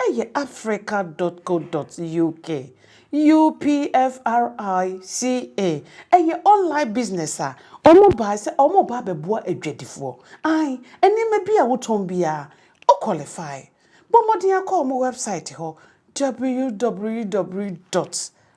Ɛyɛ Africa dot co dot uk, UPFRICA, ɛyɛ online business a wɔbae sɛ wɔreba abɛboa adwadifoɔ. Ae, nneɛma biara a wotɔn biara, wo qualify. Bɔ mmɔden ara kɔ wɔn website hɔ, www dot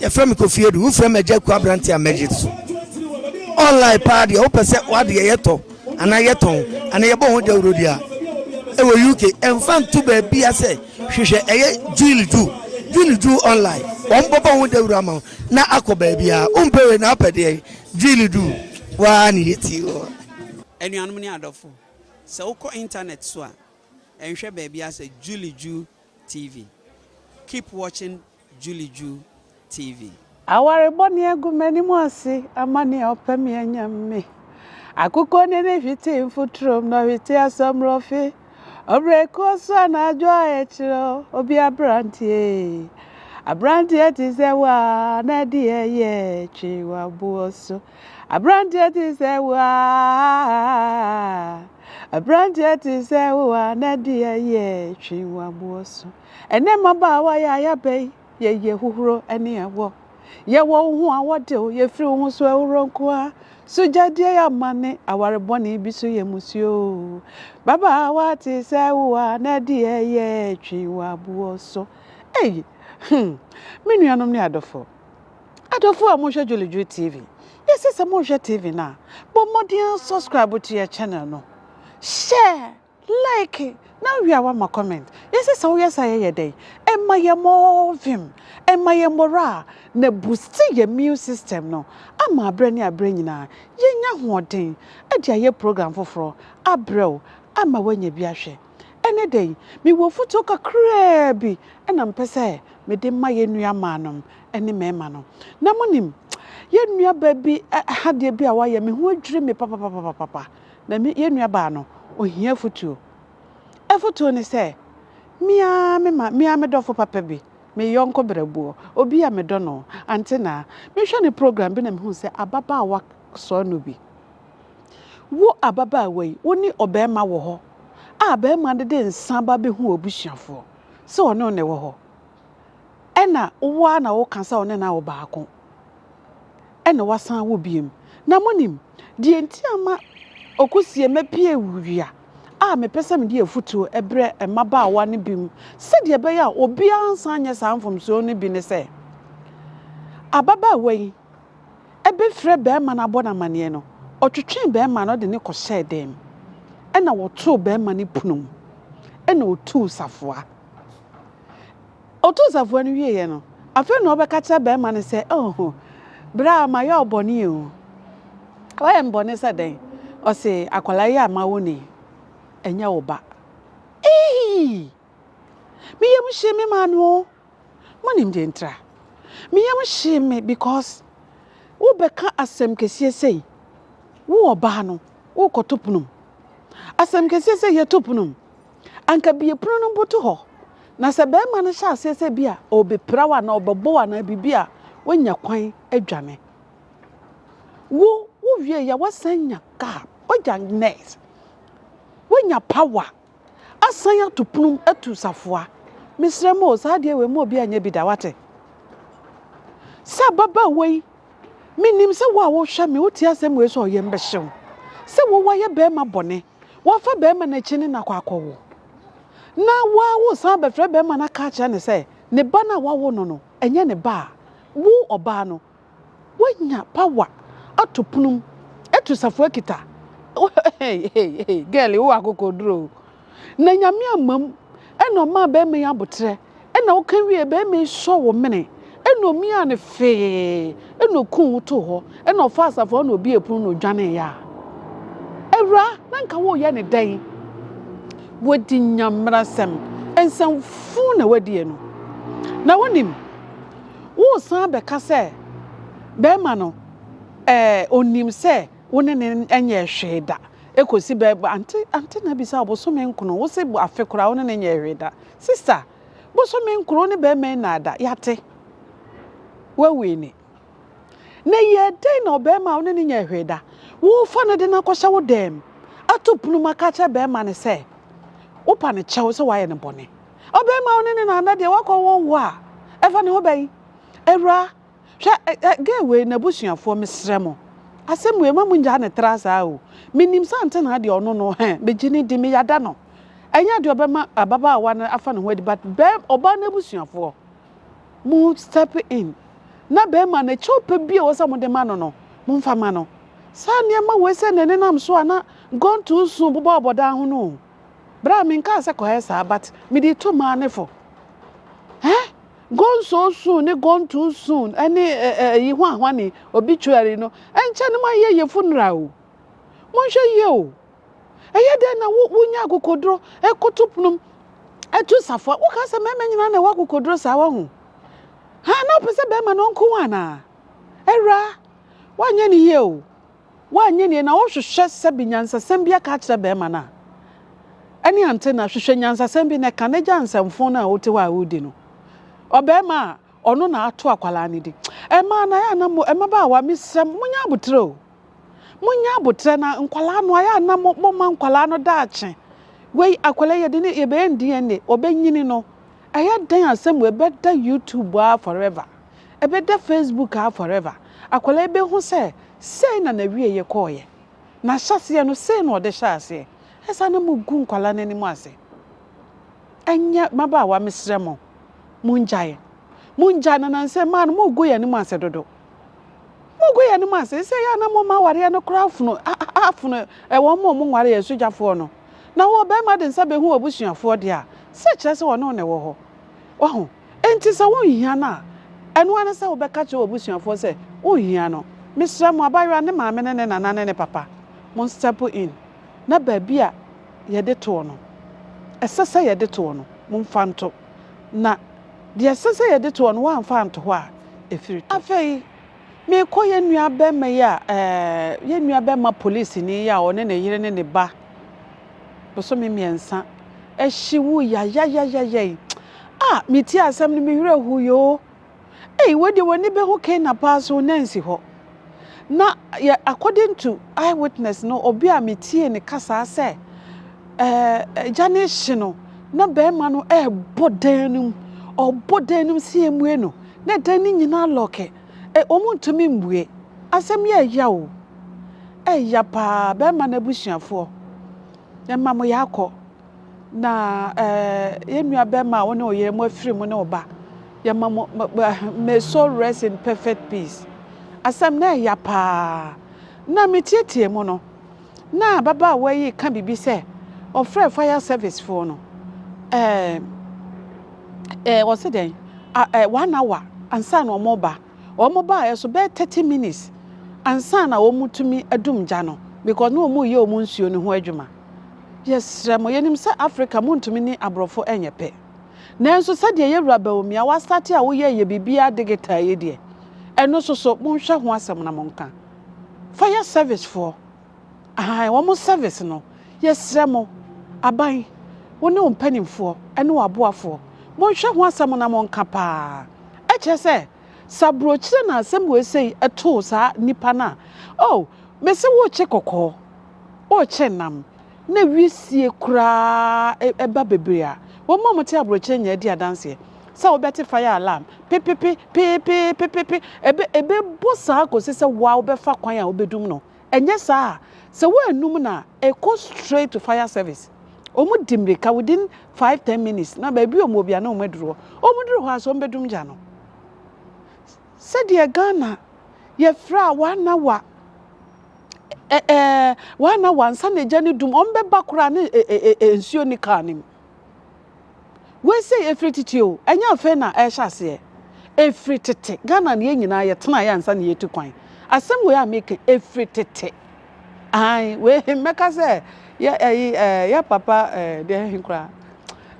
yɛfrɛ me kofi adu wofrɛ me agya aku aberante a mɛgye so online paa deɛ wopɛ sɛ woadeɛ yɛtɔ anaa yɛtɔn anaa yɛbɔ ho dawurodi a ɛwɔ uk ɛmfa nto baabia sɛ hwehwɛ ɛyɛ jil ju june ju online wɔn bɔbɔ ho dawuro ama wo na akɔ baabia wompɛ wei na wopɛ deɛ jil ju waa ne yɛti wɔ anuanom ne adɔfo sɛ wokɔ internet so a ɛnhwɛ baabi asɛ juli ju TV keep watching Juliju TV. Aware bɔne agu m'anim ase ama nea ɔpɛ me anya me. Akokɔ ne ne hwete mfuturom na ɔhwete asɔmrɔfe. Ɔbrɛkuo so anadwo a ɛkyerɛ obi aberanteɛ. Aberanteɛ te sɛ wo a na ɛde ɛyɛ twe w'aboɔ so. Abranteɛ te sɛ wo aa. Abranteɛ te sɛ wo a na deɛ yɛ twe waboɔ so. Ɛnɛ mmabaawa yɛ ayaba yi yɛyɛ hohoro ne awɔ. Yɛwɔ wo ho a wɔtew yɛfiri wo ho so ahoro nkoa. So gyadeɛ yɛ amane aware bɔne bi so yɛ musuo o. Babaawa te sɛ wo a na deɛ yɛ twe waboɔ so. Ei hmm me nuanom ne adɔfo. Adɔfoɔ a mohwɛ Dwolodwo TV, yɛse sɛ mohwɛ TV no a, bɔ mmɔden subscribe to yɛ channel no, share, like, na wie a woama comment. Yɛse sɛ woyɛ saa yɛ yɛ dɛn? Ɛma yɛn more vim, ɛma yɛn morale, na ɛboosti yɛn immune system no ama aberɛ ne aberɛ nyinaa yɛnya ahoɔden de ayɛ program foforɔ abrɛ wo ama woanya bi ahwɛ. Ɛne dɛn? Mewɔ afutuo kakraa bi na mepɛ sɛ mede ma yɛn nuamaanom ne mmarima no. Na monim, yɛn nuabaa bi ha adeɛ bi a wayɛ, me ho adwiri me papapapapapa. Na me, yɛn nuabaa no, ohia afotuo. Afotuo ne sɛ, me ara me ma, me ara me dɔfo papa bi, me yɔnko berɛboɔ, obi a medɔ no, Antenaa, mehwɛ ne program bi na mehu sɛ ababaawa sɔɔ no bi. Wo ababaawa yi, wo ne ɔbarima wɔ hɔ a barima no de nsa ba bɛhu w'abusuafoɔ sɛ ɔne wo na ɛwɔ hɔ. ɛna wo ara na woka sɛ ɔne no awo baako ɛna wasan awo biem na monim deɛ nti ama ɔkɔsie mapie wia a mepɛ sɛ mede afutuo brɛ mmabaawa no bi mu sɛdeɛ ɛbɛyɛ a obiara nsan nyɛ saa mfomsoɔ no bi ne sɛ ababaawa yi ɛbɛfrɛ bɛrima no abɔ no amanneɛ no ɔtwetwee bɛrima no ɔde ne kɔhyɛɛ dɛm ɛna wɔtoo bɛrima no pono mu ɛna ɔtuu safoa Ɔtoo safoa no wieeɛ no, afei na ɔbɛka kyerɛ barima no sɛ, Oh, bra, mayɛ wo bɔne o. Wayɛ me bɔne sɛ dɛn? Ɔse, akwadaa yi a mawo no yi, ɛnyɛ wo ba. Eii! Me yam hyee me maa no o. Monim deɛ ntira? Me yam hyee me because wobɛka asɛm kɛseɛ sei. Wo ɔbaa no, wokɔto ponom. Asɛm kɛseɛ sɛ yɛto ponom. Anka bie pono no boto hɔ. Na sɛ barima no hyɛ aseɛ sɛ bi a ɔrebɛpira wo anaa ɔbɛbɔ wo anaa biribi a, woanya kwan adwane. Wo, wowie yɛ woasan anya kaa, woagya nɛs, woanya pawa, asan ato pono atu safoa. Mesrɛ mo o, saa adeɛ wei mma obi anyɛ bi da, wate? Sɛ ababaawa yi, menim sɛ wo a wohwɛ me, wotie asɛm wei sɛ ɔyɛ mbɛhye wo. Sɛ wo, woayɛ barima bɔne. Wɔfa barima no akyi ne no akɔ akɔwo. Na woawo san bɛfrɛ barima no aka akyerɛ no sɛ ne ba no a woawo no no nyɛ ne ba a, wo ɔbaa no, woanya power ato pono mu atu safoa kita. Girl, wowɔ akokoduru o. Na Nyame ammam na ɔmaa barima yi aboterɛ. Ɛna ɔka wie bɛrima yi sɔɔ wo mene, ɛna omiaa no fee, ɛna okuu wo too hɔ, ɛna ɔfaa asafo hɔ na obiee pono na odwaneeɛ a, awura, na nka woreyɛ no dɛn? Woadi Nyamerasɛm nsɛmfuu na woadi ɛno. Na wonim, woresan bɛka sɛ bɛrima no ɛɛ onim sɛ wo ne no nyɛɛ hwee da kɔsi bɛ, ante, ante na bisa wo bosome nkono, wose afe koraa wo ne no nyɛɛ hwee da. Sister, bosome nkron ne barima yi nnaada, yɛate. Woawini. Na yɛ dɛn na ɔbarima a wo ne no nyɛɛ hwee da, worefa no de no akɔhyɛ wo dan mu, ato pono mu aka akyerɛ barima no sɛ wopa no kyɛw sɛ woayɛ no bɔne? Ɔbarima a wo ne no nnaada deɛ, woakɔwo wo a, ɛfa ne ho bɛn? Awuraa. Hwɛ ɛ ɛ girl wei n'abusuafoɔ mesrɛ mo asɛm wei ma mo ngyaa no tra saa o menim sɛ antenaa deɛ ɔno no hɛ megye no di meyada no ɛnyɛ adeɛ ɔbɛma ababaawa no afa ne ho adi but bɛ ɔbaa n'abusuafoɔ mo step in na bɛrima no kyɛw pɛ bi a ɛwɔ sɛ mo de ma no no mo nfa ma no saa nneɛma wei sɛ na nenam so a na gone too soon bobɔ ɔbɔdan ho no o bra menkaa sɛ kɔyɛ saa but mede to maa ne fo eh Gɔnsɔɔsoon ne gɔntoonsoon ne ɛ ɛ ɛyi hwanhwane, obituary, no nkyɛ no moayɛ yɛ funeral o. Monhwɛ yie o. Ɛyɛ dɛn na wo wonya akokoduro koto ponom tu safoa? Woka sɛ mmarima nyinaa na ɛwɔ akokoduro saa wahu? Ha na wopɛ sɛ barima no ɔnko wo anaa? Awuraa, woanyɛ no yie o. Woanyɛ nie na wohwehwɛ sɛbe nyansasɛm bi aka akyerɛ barima no a, ɛne ante na hwehwɛ nyansasɛm bi na ka na gya nsɛmfoo no a wote hɔ a woredi no. Ɔbarima a ɔno na ato akwadaa no din. Mmaa no ayɛ a na mo, mmabaawa mesrɛ mo, monyɛ aboterɛ o. Monyɛ aboterɛ na nkwadaa no ayɛ a na mo, moma nkwadaa no daakye. Wei akwadaa yi yɛde ne, yɛbɛyɛ no DNA, ɔbɛnyini no, ɛyɛ dɛn asɛm wei bɛda YouTube aa forever. Ɛbɛda Facebook aa forever. Akwadaa yi bɛhu sɛ sei na n'awieeɛ kɔeɛ. N'ahyɛaseɛ no, sei na ɔde hyɛɛ aseɛ. Ɛyɛ saa na mogu nkwadaa no anim ase. Ɛnyɛ mmabaawa mesrɛ mo, mongyae. Mongyae na nansɛ mmaa no mogu yɛn anim ase dodo. Mogu yɛn anim ase. Sɛ ɛyɛ a na moma awareɛ no koraa afunu, afunu wɔn a wɔnwareeɛ, asugyafoɔ no. Na wo ɔbarima de nsa bɛhu w'abusuafoɔ deɛ a, sɛ kyerɛ sɛ ɔne wo na ɛwɔ hɔ. Wahu? Enti sɛ wonhia no a, ɛno ara ne sɛ wobɛka kyerɛ w'abusuafoɔ sɛ wonhia no. Mesrɛ mo, abayewa, ne maame ne ne nana ne ne papa, monstɛpo in na baabi a yɛde toɔ no, ɛsɛ sɛ yɛde toɔ no, momfa nto. Na deɛ ɛsɛ sɛ yɛde toɔ no, woamfa anto hɔ a, ɛfiri to. Afei, merekɔ yɛn nuabɛmma yi a, ɛɛ, yɛn nuabɛmma polisini yi a ɔne ne yere ne ne ba, bosome mmiɛnsa ahyi wui ayayayayay ah metie asɛm no me werɛ ho yoo ei wei deɛ w'ani bɛhu Kena paa so na nsi hɔ na yɛ according to eyewitness no obi a metie ne kasaa sɛ ɛɛ gya ne hye no na bɛrima no ɛɛbɔ dan no mu ɔbɔ dan no mu sɛ yɛmmue no na dan no nyinaa lɔke Eh wɔn ntumi mbue. Asɛm yi ɛya o. Ɛya paa bɛɛma no abusuafoɔ. Ɛma mo ya akɔ. Na eh yɛn nua bɛɛma a wo ne wo yere mo afiri mo ne wo ba. Yɛma mo may soul rest in perfect peace. Asɛm no ɛya paa. Na me tietie mu no. na ababaawa yi reka biribi sɛ ɔfrɛɛ fire service foɔ no ɛɛ ɛɛ ɔse dɛn ɛɛ one hour ansa na wɔn ba wɔn baa ɛso bɛyɛ thirty minutes ansa na wɔn tumi adum gya no because na wɔn reyɛ wɔn nsuo no ho adwuma yɛsrɛ mo yɛnim sɛ Africa mo ntumi ne aborɔfo ɛnyɛ pɛ nanso sɛdeɛ yɛ wura bawumia wasate a woyɛ yɛ biribiara digital yi deɛ ɛno soso monhwɛ ho asɛm na monka. Fire service foɔ ahan wɔn service no yɛsrɛ mo aban wo ne wo mpaninfoɔ ɛne wo aboafoɔ monhwɛ ho asɛm na monka paa ɛkyerɛ sɛ sɛ abrokyire na asɛm wei sei ɛtoo saa nipa no a oh mese worekye kɔkɔɔ worekye nam na wisie koraa ba bebree a, wɔn a wɔte aburokyire nyinaa di adanseɛ sɛ wobɛte fire alarm pepepe, peepeepepepe, ɛbɛ, ɛbɛbɔ saa kɔsi sɛ woa wobɛfa kwan a wobɛdum no. Ɛnyɛ saa a, sɛ woannum no a, ɛkɔ straight to fire service. Wɔn di mmirika within five, ten minutes, na baabi a wɔn wɔ biara na wɔn aduru hɔ. Wɔn duru hɔ ara so, wɔn bɛdum gya no. Sɛdeɛ Ghana yɛfrɛ a wɔanawa. ɛ ɛ wɔn na wansa na egya ne dum wɔn bɛba koraa ne ɛ ɛ ɛ nsuo ne kaa ne mu wei sɛ efiri tete o ɛnyɛ afei na ɛhyɛ aseɛ efiri tete ghana ne yɛn nyinaa yɛ tena yɛ ansa na yɛtu kwan asɛm wei a meka efiri tete ayi wei mɛka sɛ yɛ ɛyi ɛ yɛ papa ɛ deɛ ɛhe koraa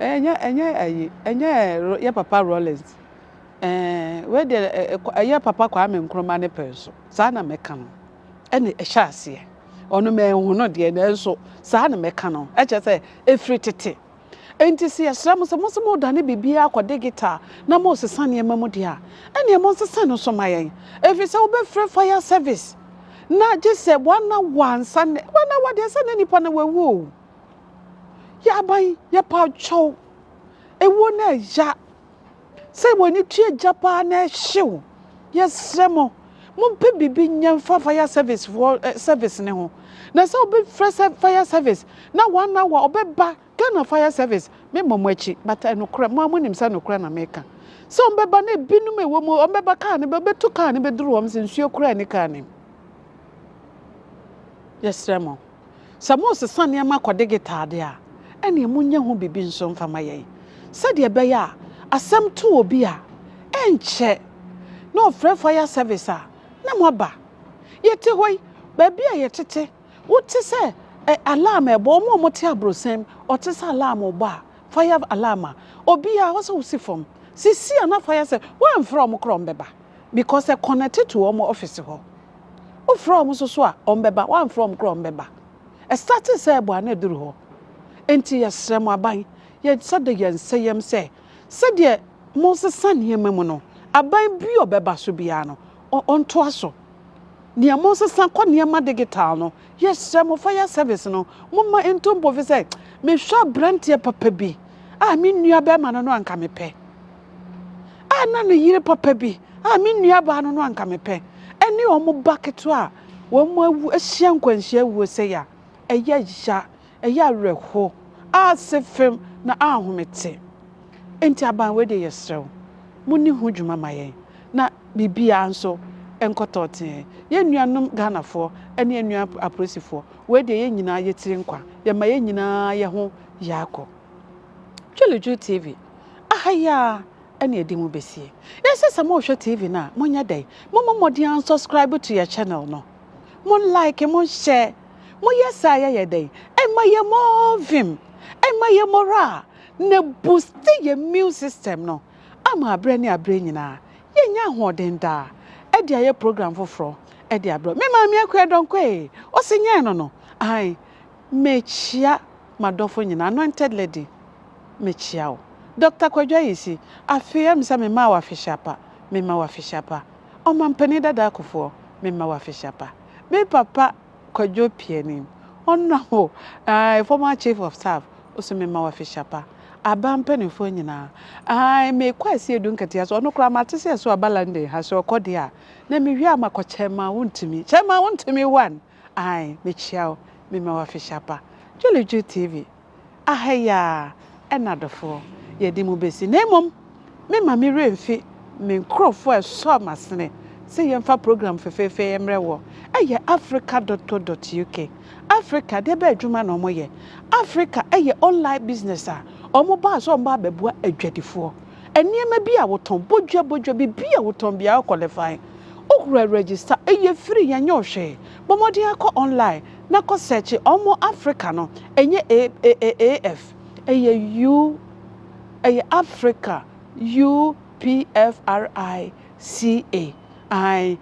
ɛnyɛ ɛnyɛ ɛyi ɛnyɛ yɛ papa rollins ɛɛ wei deɛ ɛ yɛ papa kwame nkrumah ne pɛn so. Saa na mɛka no. Ɛnna ɛhyɛɛ aseɛ. Ɔno manhu no deɛ, nanso saa na mɛka no. Ɛkyerɛ sɛ, ɛfiri tete. Enti sɛ yɛsrɛ mo sɛ monse moredane biribiara akɔ digital na moresesa nneɛma mu deɛ a, ɛnneɛ monsesa no nso mma yɛn. Ɛfiri sɛ wobɛfrɛ fire service na gye sɛ one hour ansa na, one hour deɛ sɛ na nnipa no wawu o. Yɛn aban, yɛpa kyɛw. Ɛwuo no ɛya Sɛ w'ani tua agya paa na ɛhye wo, yɛsrɛ mo, mompɛ biribi nyɛ mfa fire service foɔ eh, service no ho. Na sɛ wobɛfrɛ sɛ fire service na one hour ɔbɛba Ghana fire service, memmɔ mo akyi but ɛnokorɛ, mo ara monim sɛ nokorɛ na meka. Sɛ wɔbɛba na ebinom a ɛwɔ mu wɔbɛba kaa no bɛ, bɛtu kaa no bɛduru wɔn sɛ nsuo koraa nni kaa no mu. Yɛsrɛ mo. Sɛ moresesa nneɛma akɔ digital de a, ɛnneɛ monyɛ ho biribi nso mfa ma yɛn sɛdeɛ ɛbɛyɛ a asɛm to obi a, ɛnkyɛ na ɔfrɛ fire service a, na moaba. Yɛte hɔ yi, baabi a yɛtete, wote sɛ ɛ, alarm rebɔ, wɔn a wɔte abrɔsan mu, wɔte sɛ alarm rebɔ a, fire alarm a, obiara, ɛwɔ sɛ wosi fam. Seesei a na fire service, woamfrɛ wɔn koraa a, wɔbɛba because ɛ connect to wɔn office hɔ. Wofrɛ wɔn nso so a, wɔbɛba. Woamfrɛ wɔn koraa a, wɔbɛba. Ɛstartee sɛ ɛboa na ɛduru hɔ. Enti yɛsrɛ mo, aban, yɛsɔ da yɛn nsa yam sɛ, sɛdeɛ mosesa nneɛma mu no, aban bi a ɔbɛba so biara no, ɔntoa so. Deɛ mosesa kɔ nneɛma digital no, yɛsrɛ mo, fire service no, momma ɛntu mpofiri sɛ, mehwɛ aberanteɛ papa bi a me nuabarima no no anka mepɛ. a na ne yere papa bi a me nuabaa no no anka mepɛ ne wɔn ba ketewa a wɔn awu ahyia nkwanhyia awuo sɛe a ɛyɛ ya ɛyɛ awerɛho ase fam na ahomete nti aban wei deɛ yɛsrɛ wo mo ne ho dwuma ma yɛn na biribiara nso nkɔtɔ tee yɛn nuanom Ghanafoɔ ne yɛn nua apolisifoɔ wei deɛ yɛn nyinaa yɛtiri nkwa yɛma yɛn nyinaa yɛ ho yaakɔ. Dwuldwul TV, aha yi ara na yɛde mu besie. Yɛse sɛ morehwɛ TV no a, monyɛ dɛn? Mommɔ mmɔden a nsɔskraibe to yɛ channel no. Mo like, mo hyɛ. Mo yɛ saa a yɛyɛ dɛn? Ɛma yɛ more vim, ɛma yɛ moraa, na ɛbusti yɛ immune system no ama aberɛ ne aberɛ nyinaa yɛnya ahoɔden daa ɛde ayɛ program foforɔ ɛde abrɛ wo. Me maame Akuadɔnkwɛe, ɔse nyɛɛ no no, ae. Mekyia m'adɔfo nyinaa, Anointed Lady, mekyia wo. Doctor Kwadwo Ayisi, afei a misa memaa wo afehyia pa, mema wo afehyia pa. Ɔmampanin Dada Akufoɔ, mema wo afehyia pa. Me papa Kwadwo Piani, Honourable, ae, former Chief of Staff, wo nso mema wo afehyia pa. Aba mpanimfoɔ nyinaa, ae, mekɔ Asie Edu Nketewa so, ɔno koraa mate sɛ ɛso aba London ha, sɛ ɔkɔ deɛ a, na mewie a makɔ Chairman Wontumi, Chairman Wontumi one, Ae mekyia wo me ma wo afehyɛ pa Jolly Ju TV aha yi aa ɛna adɔfoɔ yɛde mu besi na mmom me ma me werɛ mfi me nkorɔfoɔ a ɛsɔɔ masene sɛ yɛmfa program fefeefee ɛmrɛ woɔ ɛyɛ Africa dot co dot UK Africa deɛ bɛn adwuma na wɔyɛ Africa ɛyɛ online business a wɔn baa sɛ wɔn baa bɛboa adwadifoɔ nneɛma bi a wotɔn, bodwa bodwa, biribi a wotɔn biara wo qualify. Wokura register, ɛyɛ free yɛnyɛ wo hwee. Bɔ mmɔden ara kɔ online na kɔ search wɔn Africa no, ɛnyɛ AAAF, ɛyɛ U, ɛyɛ Africa, UPFRICA, ae,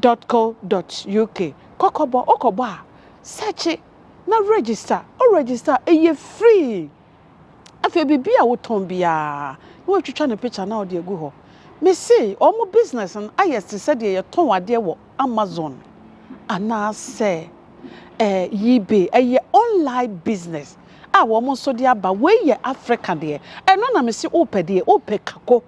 dot co dot uk. Kɔ kɔbɔ, wokɔbɔ a, search na register, wo register a, ɛyɛ free. Afei biribi a wotɔn biara na watwitwa ne pikya na ɔde agu hɔ. Mise wɔn business no ayɛ te sɛ deɛ yɛtɔn adeɛ wɔ Amazon anaasɛ eh, eBay. Ɛyɛ online business a wɔn nso de aba. Wei yɛ Africa deɛ. Ɛno na mese wopɛ deɛ, wopɛ kako.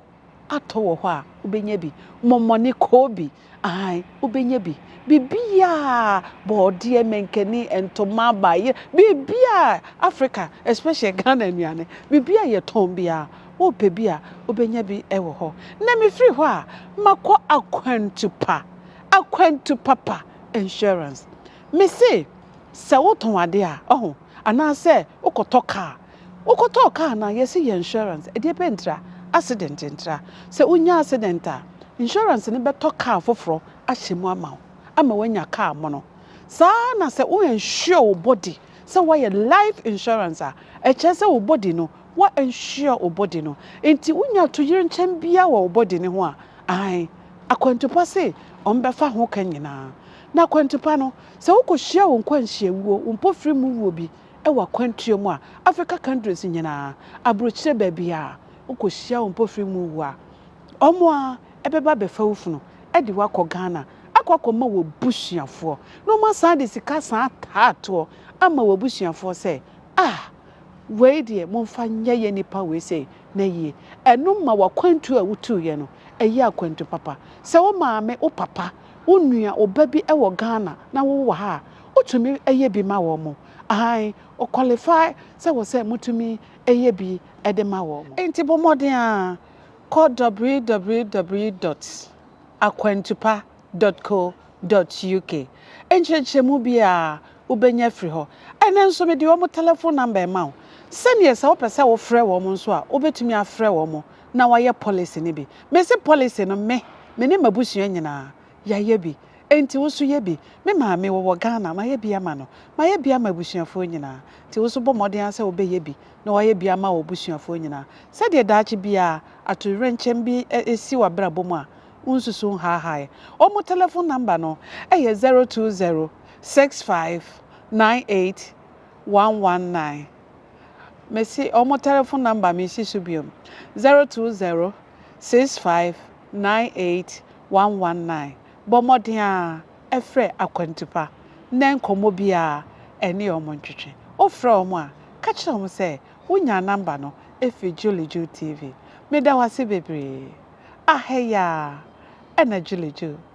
atɔ wɔ hɔ a, wobɛnya bi. Mɔmɔne, kɔɔ bi, aane, wobɛnya bi. Biribiara, bɔɔdeɛ, mankani, ntoma, baayere, biribiara, Africa, especially Ghana nnuane, biribiara a yɛtɔn biara, wopɛ bi a, wobɛnya bi wɔ hɔ. Na mefiri hɔ a, makɔ akwantu pa, akwantu papa insurance. Mese, sɛ wotɔn adeɛ a, ɔho, anaasɛ wokɔtɔ kaa, Wo kɔtɔɔ car no a yɛse yɛ insurance ɛdeɛ pɛ ntra accident ntra sɛ wo nya accident a insurance no bɛtɔ car foforɔ ahyɛ mu ama wo ama wanya car mono saa ara na sɛ wo insure wo body sɛ wayɛ life insurance a ɛkyerɛ sɛ wo body no wa insure wo body no nti wo nya atoyerɛnkyɛm biara wɔ wo body no ho a ae akwantupa se wɔn bɛfa ho ka nyinaa na akwantupa no sɛ wo kɔ hyia wo nkwanhyia wuo wo mpofiri mu wuo bi wɔ akwantuo mu a, Africa countries nyinaa, aburokyire baabiara wokɔhyia wo mpofiri mu wu a, wɔn ara bɛba abɛfa wo funu de wo akɔ Ghana akɔ akɔma w'abusuafoɔ na wɔn asan de sika asan ataa toɔ ama w'abusuafoɔ sɛ ah, wei deɛ momfa nyɛ yɛn nipa wei sei na yie. Ɛno ma w'akwantuo a wotuiɛ no, ɛyɛ akwantu papa. Sɛ wo maame, wo papa, wonua oba bi wɔ Ghana na wo wɔ ha a wotumi yɛ bi ma wɔn mo? Aane, o qualify sɛ wɔ sɛ motumi yɛ bi de ma wɔn mo. Nti bɔ mmɔden ara kɔ www dot akwantupa dot co dot uk nkyerɛkyerɛmu biara wobɛnya firi hɔ. Ɛnɛ nso mede wɔn telephone number rema wo sɛdeɛ sɛ wopɛ sɛ wofrɛ wɔn nso a wobɛtumi afrɛ wɔn na wayɛ policy no bi. Mese policy no me, me ne m'abusua nyinaa yɛayɛ bi. Enti wo nso yɛ bi. Me maame ɔwɔ Ghana, mayɛ bi ama no. Mayɛ bi ama abusuafoɔ nyinaa. Enti wo nso bɔ mmɔden ara sɛ wobɛyɛ bi na woayɛ bi ama w'abusuafoɔ nyinaa. Sɛdeɛ daakye biara atoyerɛnkyɛm bi si w'abrabɔ mu a, wonsusu nhaahaaeɛ. Wɔn telephone number no yɛ zero two zero six five nine eight one one nine. Mesi ɔmo tɛlɛfon nɔmba mesi so biom, zɛro tuu zɛro sis faiv naen eit wan wan naen. Bɔ mmɔden ara ɛfrɛ Akwantu Pa na nkɔmmɔ biara ɛne ɔmo ntwetwe. Wo frɛ ɔmo a, ka kyerɛ ɔmo sɛ wo nyaa nɔmba no ɛfiri Julie Ju TV. Meda wo ase bebree. Ahɛyaa ɛna Julie Ju.